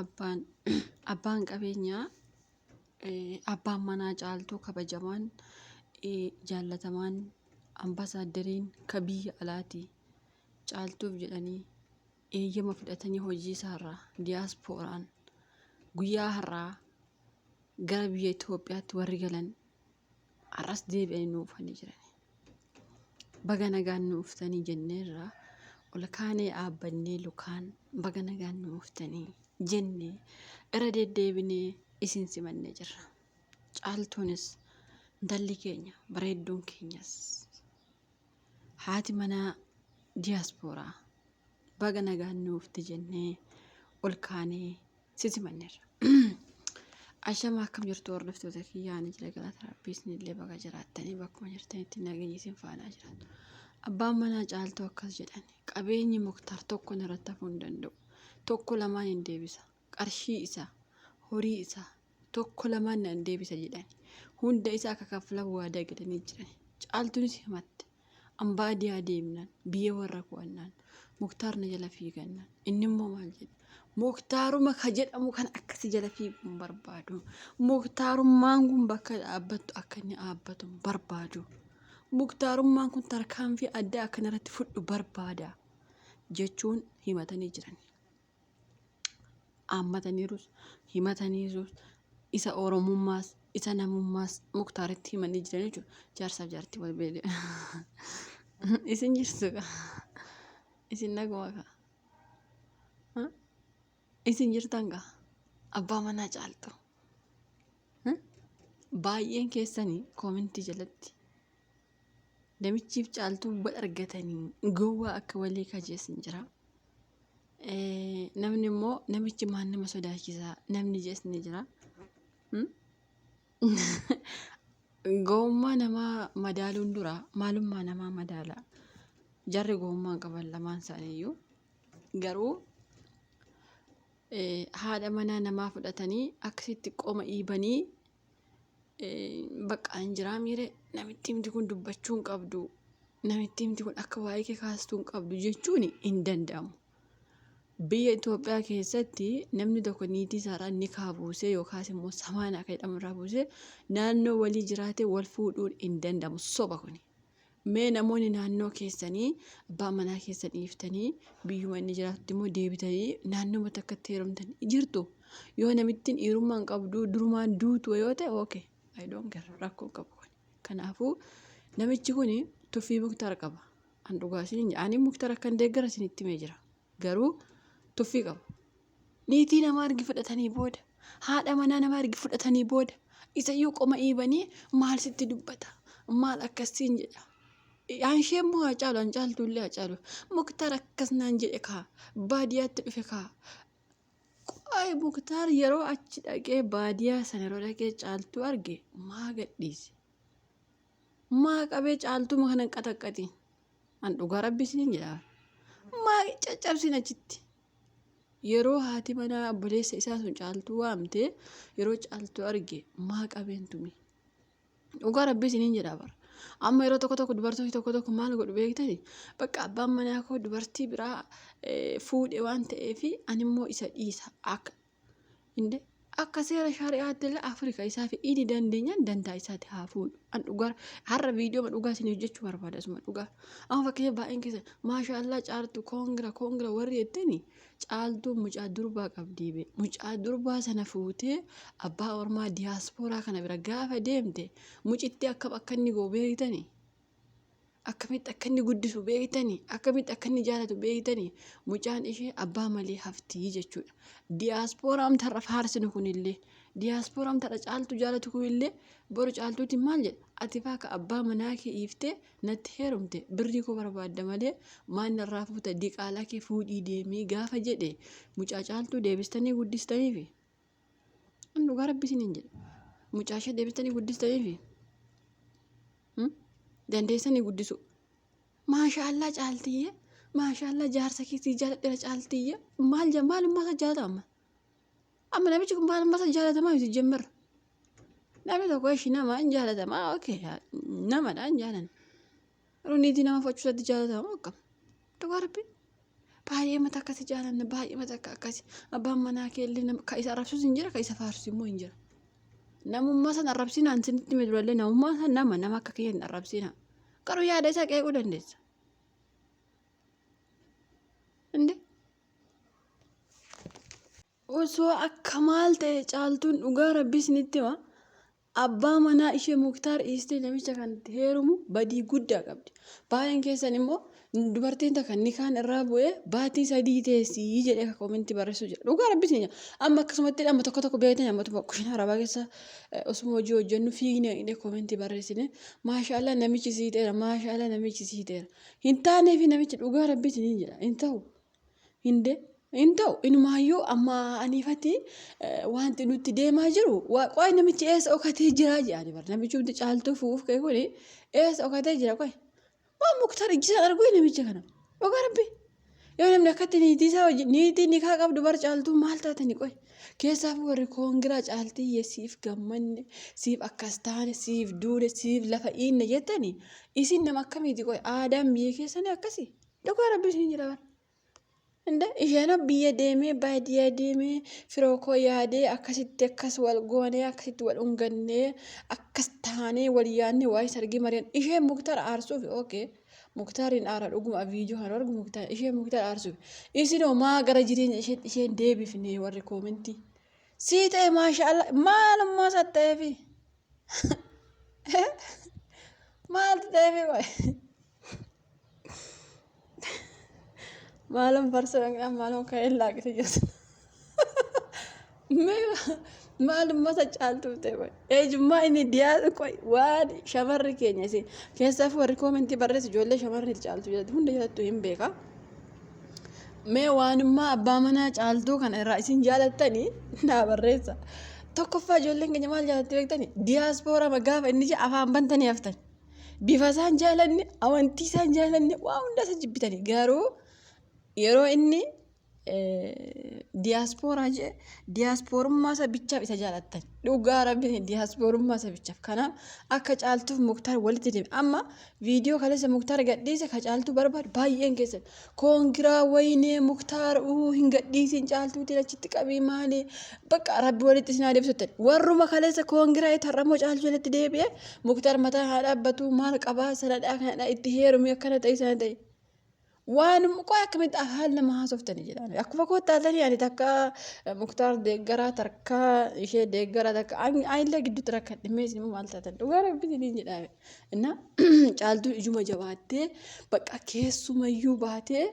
Abbaan qabeenyaa abbaan manaa caaltuu kabajamaan, jaallatamaan, ambaasaadderiin kan biyya alaati. Caaltuuf jedhanii eeyyama fudhatanii hojiisaarraa diyaaspooraan guyyaa har'aa gara biyya Itoophiyaatti warri galan, har'as deebi'anii nu dhufanii jiran. Baga nagaan nu dhuftanii jenneerra ol kaanee dhaabbannee lukaan baga nagaan nu dhuftanii jennee irra deddeebinee isin simannee jirra. Caaltuunis intalli keenya bareedduun keenyas haati manaa diyaaspooraa baga nagaan nu dhufte jennee ol kaanee Siti manneerra. Ashama akkam jirtu hordoftoota kiyyaa ani jira galata rabbii isinillee baga jiraattanii bakkuma jirtanitti nageenyi isin faanaa jiraatu. Abbaan manaa caaltuu akkas jedhan qabeenyi muktaar tokko narratti hafuu hin danda'u. Tokko lamaan hin deebisa. Qarshii isaa, horii isaa, tokko lamaan nan deebisa jedhan. Hunda isaa akka kaffalan waadaa galanii jiran. Caaltuunis himatte. An baadiyaa deemnaan biyya warra ko'annaan muktaar na jala fiigannaan inni immoo maal jedhe muktaaruma ka jedhamu kan akkasi jala fiiguun barbaadu muktaarummaan kun bakka dhaabbattu akka inni dhaabbatu barbaadu muktaarummaan kun tarkaanfii addaa akkanarratti fudhu barbaada jechuun himatanii jiran. haammataniirus, himataniirus, isa Oromummaas, isa namummaas Muktaaritti himanii jiran jechuudha. Jaarsaaf jaartii wal beele. Isin jirtu ka. Isin naguma ka. Isin jirtan ka. Abbaa manaa caaltu. Baay'een keessanii koomintii jalatti namichiif caaltuu wal argatanii gowwaa akka walii kajeessin jira. Eh, Namni immoo namichi maan nama sodaachisa namni jees ni jira. Hmm? Gowwummaa namaa madaaluun dura maalummaa namaa madaala. Jarri gowwummaa hin qaban lamaan isaaniiyyuu. Garuu eh, haadha manaa namaa fudhatanii akkasitti qoma dhiibanii baqqaa hin jiraa miire namitti himti kun dubbachuu hin qabdu namitti himti kun akka waa'ee kee kaastuu hin qabdu jechuun hin danda'amu. Biyya Itoophiyaa keessatti namni tokko niitii isaarraa ni kaabuusee yookaas immoo samaanaa kan jedhamu irraa buusee naannoo walii jiraate wal fuudhuun hin danda'amu soba kuni. Mee namoonni naannoo keessanii abbaa manaa keessan dhiiftanii biyyuma inni jiraatutti immoo deebitanii naannoma takkatti heerumtan jirtu. Yoo namittiin dhiirummaa hin qabdu durumaan duutu yoo ta'e okay I don't care rakkoo hin qabu kun. Kanaafuu namichi kun tuffii muktaar qaba. An dhugaa isin ani muktaar akkan deeggara isinitti himee jira. garuu tuffii qabu. Niitii namaa ergi fudhatanii booda, haadha manaa namaa ergi fudhatanii booda, isayyuu qoma iibanii maal sitti dubbata? Maal akkasiin jedha? An ishee immoo haa caalu, an caaltuullee haa caalu. Muktaar akkas naan jedhe kaa, baadiyyaatti dhufe kaa. Qo'ee Muktaar yeroo achi dhaqee baadiyyaa sana yeroo dhaqee caaltuu arge maa gadhiise? Maa qabee caaltuma kanan qaxaqqatiin? An dhugaa rabbi isiniin jedha. Maa caccabsin achitti. Yeroo haati manaa obboleessa isaa sun caaltuu waamte yeroo caaltuu arge maa qabeen tume. Dhugaa rabbi isiniin jedha bara. Amma yeroo tokko tokko dubartoonni tokko tokko maal godhu beektani? Bakka abbaan manaa koo dubartii biraa eh, fuudhe waan ta'eef animmoo isa dhiisa. Akka Inde akka seera shari'aatti illee Afrika isaa fi idi dandeenyaan dantaa isaatti haa fuudhu. An dhugaa har'a viidiyoo dhugaa isin hojjechuu barbaada asuma dhugaa. Amma fakkeenya baay'een keessa maashaa allaa caaltu koongira koongira warri jettani caaltuu mucaa durbaa qabdii bee. Mucaa durbaa sana fuutee abbaa ormaa diyaaspooraa kana bira gaafa deemte mucitti akka akka inni goo beektani. akkamitti akka inni guddisu beektanii akkamitti akka inni jaalatu beektanii mucaan ishee abbaa malee haftii jechuudha. Diyaaspooraa amtarra faarsinu kunillee diyaaspooraa amtarra caaltu jaalatu kunillee boru caaltuuti maal jedha ati faaka abbaa manaa kee iiftee natti heerumte birrii koo barbaadda malee maan narraa fuuta diqaalaa kee fuudhii deemii gaafa jedhe mucaa caaltuu deebistanii guddistaniifi. An dhugaa rabbi isiniin jedhe. Mucaa ishee deebistanii guddistaniifi. Dandeessanii guddisuu. Maashaallaa caaltiyyee. Maashaallaa jaarsa keetii jaaladheera caaltiyyee. Maal jaa maalummaa isaa jaalata amma. Amma namichi kun maalummaa isaa jaalatamaa miti jemmarra. Namni tokko ishii nama hin jaalatamaa okay namadha hin jaalanne. Yeroo niitii nama fudhachuu isaatti jaalatamu akkam? Dhugaa rabbi baay'ee mata akkasi jaalanna baay'ee mata akka akkasi abbaan manaa kee illee nama kan isa arrabsus hin jira kan isa faarsu immoo hin jira. Namummaa san arrabsinaan sinitti hime durallee namummaa san nama nama akka kiyya hin arrabsinaa. Garuu yaada isaa qeequu dandeessa. Inde Osoo akka maal ta'e caaltuun dhugaa rabbi isinitti hima abbaa manaa ishee muktaar dhiistee namicha kanatti heerumu badii guddaa qabdi baay'een keessan immoo dubartiin takka nikaan irraa bu'ee baatii sadii teessii jedhee akka komentii barreessuu jira dhugaa rabbi isin amma akkasumatti amma tokko tokko beektan ammatuma kushinaa arabaa keessa osuma hojii hojjennu fiignee dhaqnee komentii barreessine maashaallah namichi siiteera maashaallah namichi siiteera hin taaneefi namichi dhugaa rabbi isiniin jedha hin ta'u. Hinde hin ta'u inumaayyuu amma aniifati wanti nutti deemaa jiru qoy namichi eessa okatee jiraa jedhani bar namichumti caaltuu fuuf kee kuni eessa okatee jira qoy maa muktar ijjisaan arguu namicha kana dhugaa rabbi yoo namni akkatti niitii isaa wajjin niitii nikaa qabdu bar caaltuu maal taatani qoy keessaaf warri koongiraa caaltiyye siif gammanne siif akkas taane siif duune siif lafa iinne jettani isin nama akkamiiti qoy aadaan biyya keessanii akkasii Dhugaa rabbii isin jira bar. Inda isheen biyya deemee baadiyyaa deemee firoo koo yaadee akkasitti akkas wal goonee akkasitti wal ungannee akkas taanee wal yaadne waa'ee sargii mari'an isheen muktar aarsuuf ookee muktaariin aara dhuguma viidiyoo kan argu muktaar isheen muktar aarsuuf isin homaa gara jireenya isheen isheen deebifne warri koomentii sii ta'e maashaallah maalummaa isaa ta'eefi maal ta'eefi waa'ee. Maalon farsoo dhaqnaan maalon ka'een laaqite jirti. Mee maal uummata caaltuu ta'e qoy. Ejummaa inni diyaa qoy waan shamarri keenya isin keessaaf warri koomentii barreessu ijoollee shamarri caaltuu jedhatu hunda jedhattu hin beeka. Mee waanummaa abbaa manaa caaltuu kana irraa isin jaalattanii naa barreessa. Tokkoffaa ijoolleen keenya maal jaalatti beektanii? Diyaaspooraa gaafa inni jedhe afaan bantanii haftan. bifa isaan jaalanne amantii isaan jaalanne waa hunda isa jibbitanii garuu yeroo inni diyaaspooraa jee diyaasporummaa isa bichaaf isa jaalattan dhugaa rabbiin diyaasporummaa isa bichaaf kanaaf akka caaltuuf muktaar walitti deeme amma viidiyoo kaleessa muktaar gadhiise ka caaltuu barbaadu baay'een keessan Koongiraa wayinee muktaar uu hin gadhiisiin caaltuutiin achitti qabii maali bakka rabbi walitti isin haa deebisutti warruma kaleessa koongiraa itti har'amoo caaltuu jalatti deebi'e muktaar mataa haa dhaabbatu maal qabaa sanadhaa kanadhaa itti heerumii akkana ta'e sana ta'e waan qoy akkamitti afaan nama haasoftanii jedhaan akkuma koottaatanii ani takka muktaar deeggaraa takka ishee deeggaraa takka anillee gidduutti rakkan dhimmeessi immoo maal taatan dhugaa rabbi jedhaan Innaa caaltuun ijuma jabaattee bakka keessumayyuu baatee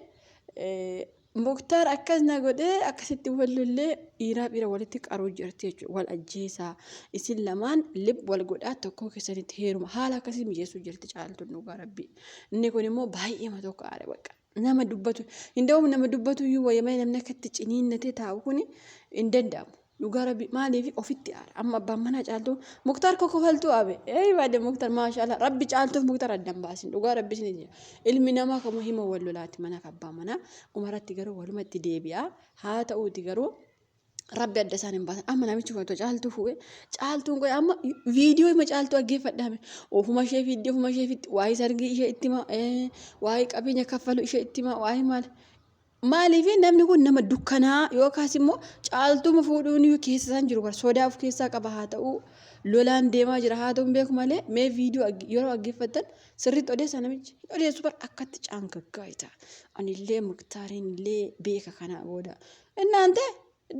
muktaar akkas na godhee akkasitti wal lollee dhiiraa dhiira walitti qaruu jirti jechuudha wal ajjeesaa isin lamaan lib wal godhaa tokkoo keessanitti heeruma haala akkasii mijeessuu jirti caaltuun dhugaa rabbii inni kun immoo baay'eema tokko aare bakka Nama dubbatu hin da'uuf nama dubbatu iyyuu wayya malee namni akka itti ciniinnatee taa'u kun hin danda'amu. Dhugaa rabbi maaliif ofitti aara amma abbaan manaa caaltuu muktaar kokofaltuu abe ee baade muktaar maashaallah rabbi caaltuuf muktaar addan baasin dhugaa rabbi isin jira ilmi namaa kamuu hima wal lolaati mana abbaa manaa dhumarratti garuu walumatti deebi'a haa ta'uuti garuu Rabbi adda isaan hin baasan. Amma namichi kun otoo caaltuu fuudhe caaltuun kun amma viidiyoo ima caaltuu dhaggeeffadhaame. Ofuma ishee fiidde ofuma ishee fiidde waa'ee sargii ishee itti himaa waa'ee qabeenya kaffaluu ishee itti himaa waa'ee maal. Maaliif namni kun nama dukkanaa yookaas immoo caaltuuma fuudhuun keessa isaan jiru bara sodaa of keessaa qaba haa ta'uu lolaan deemaa jira haa ta'uu hin beeku malee mee viidiyoo yeroo dhaggeeffattan sirriitti odeessa namichi hin odeessu bara akkatti caangaggaa ita anillee muktaariin illee beeka kanaa booda Innaante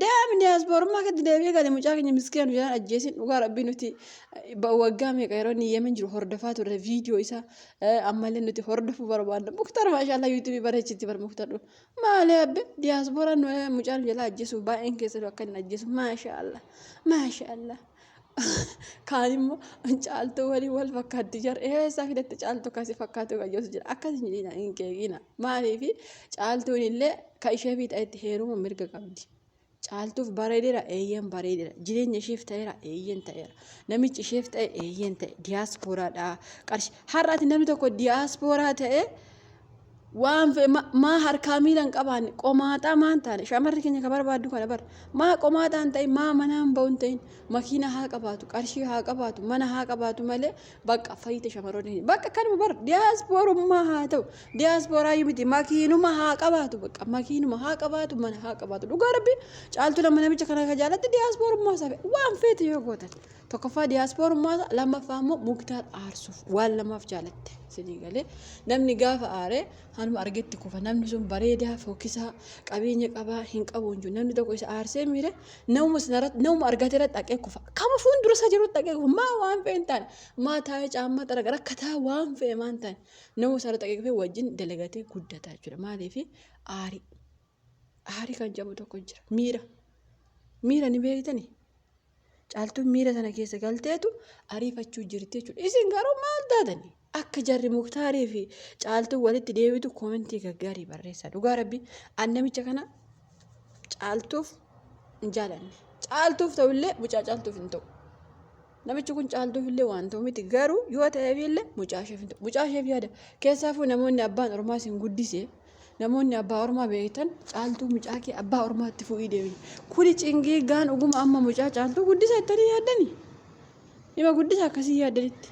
deemi diyaaspoorummaa keetti deebi'ee gali mucaa keenya miskiina nu jalaan ajjeesin dhugaa rabbii nuti waggaa meeqa yeroo inni yemen jiru hordofaa turre viidiyoo isaa ammallee nuti hordofuu barbaadna muktar maashaallah yuutuubii bareechitti bar muktadhu maalee abbe diyaaspooraan mucaa nu jalaa ajjeesuuf baay'een keessan akka inni ajjeesu maashaallah maashaallah Kaan immoo caaltuu waliin wal fakkaatti jira. Eessa fidatte caaltuu akkasii fakkaatu kan jedhu jira. Akkas hin jedhina hin keekina. Maaliif caaltuun illee kan ishee fi ta'etti heeruma mirga qabdi. Caaltuuf bareedera eeyyeen bareedera. Jireenya isheef ta'eera eeyyeen ta'eera. Namichi isheef ta'e eeyyeen ta'e. Diyaaspooraadha. Qarshi har'aati namni tokko diyaaspooraa ta'ee Waan fe ma, maa harkaa miila hin qabaanne, qomaaxaa maa hin taane, shamarri keenya ka barbaaddu kana bar. Maa qomaaxaa hin ta'in, maa manaa hin ba'u hin ta'in, makiina haa qabaatu, qarshii haa qabaatu, mana haa qabaatu malee baqqa fayyite shamarroonni keenya. Baqqa kanuma bar diyaaspoorummaa haa ta'u, diyaaspooraayyu miti makiinuma haa qabaatu baqqa makiinuma haa qabaatu, mana haa qabaatu. Dhugaa rabbii caaltuu lama namicha kana ka jaalatte diyaaspoorummaa isaa fe, waan feete yoo gootan. Tokkoffaa diyaaspoorummaa lammaffaa immoo muktaar aarsuuf waan lamaaf jaalatte sinii galee namni gaafa aare hanuma argetti kufa namni sun bareedaa fokkisaa qabeenya qabaa hin qabu hin jiru namni tokko isa aarsee miire namuma sanarratti namuma argate irratti dhaqee kufa kama fuuldura isaa jirutti dhaqee kufa maa waan fe'e hin taane maa taa'ee caammaa xaraga rakkataa waan fe'e maan taane namuma sanarratti dhaqee kufee wajjin dalagatee guddataa jechuudha maaliif aarii aarii kan jedhamu tokko jira miira miira ni beektanii Caaltuun miira sana keessa galteetu ariifachuu jirti jechuudha. Isin garuu maal taatani? Akka jarri muktaarii fi caaltuun walitti deebitu koomentii gaggaarii barreessaa. Dhugaa rabbi an namicha kana caaltuuf hin jaalanne. Caaltuuf ta'ullee mucaa caaltuuf hin ta'u. Namichi kun caaltuuf illee waan ta'u miti garuu yoo ta'eef illee mucaa isheef hin ta'u. Mucaa isheef yaada. Keessaafuu namoonni abbaan ormaas hin guddise. Namoonni abbaa ormaa beektan caaltuu mucaa kee abbaa ormaatti fuudhii deemi. Kuni cingee gaan oguma amma mucaa caaltuu guddisa jettanii yaaddani. Dhima guddisa akkasii yaaddanitti.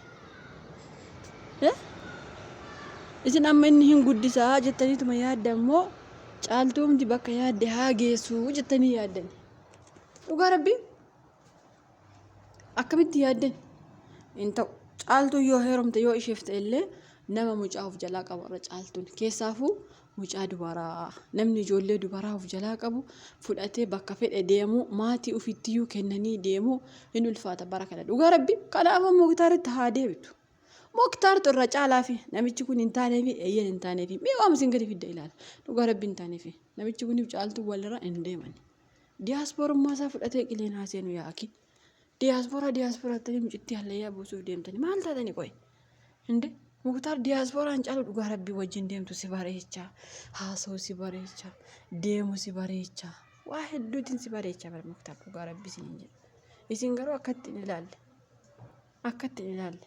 Isin amma inni hin guddisaa jettaniituma yaadda immoo caaltuumti bakka yaadde haa geessu jettanii yaaddani. Dhugaa rabbii Akkamitti yaaddan? Hin ta'u. Caaltuu yoo heerumte yoo isheef ta'e illee nama mucaa of jalaa qabu irra caaltuun keessaafuu mucaa dubaraa namni ijoollee dubaraa of jalaa qabu fudhatee bakka fedhe deemuu maatii ofittiyyuu kennanii deemuu hin ulfaata bara kana dhugaa rabbi kanaafuu muktaaritti haa deebitu. Muktaartu irra caalaafi namichi kun hin taaneefi eeyyeen hin taaneefi mee waan isin gadi fidda ilaala dhugaa rabbi hin taaneefi namichi kuniif caaltuu walirra hin deemani. Diyaaspoorummaa isaa fudhatee qileen haa seenu yaa akii. Diyaaspooraa diyaaspooraatti mucittii hallayyaa buusuuf deemtanii maal taatanii qoy? Inde muktaar diyaaspooraan caalu dhugaa rabbii wajjin deemtu si bareecha. Haasa'u si bareecha. Deemu si bareecha. Waa hedduutiin si bareecha bara muktaar dhugaa rabbii isin jedha. Isin garuu akkatti hin ilaalle. Akkatti hin ilaalle.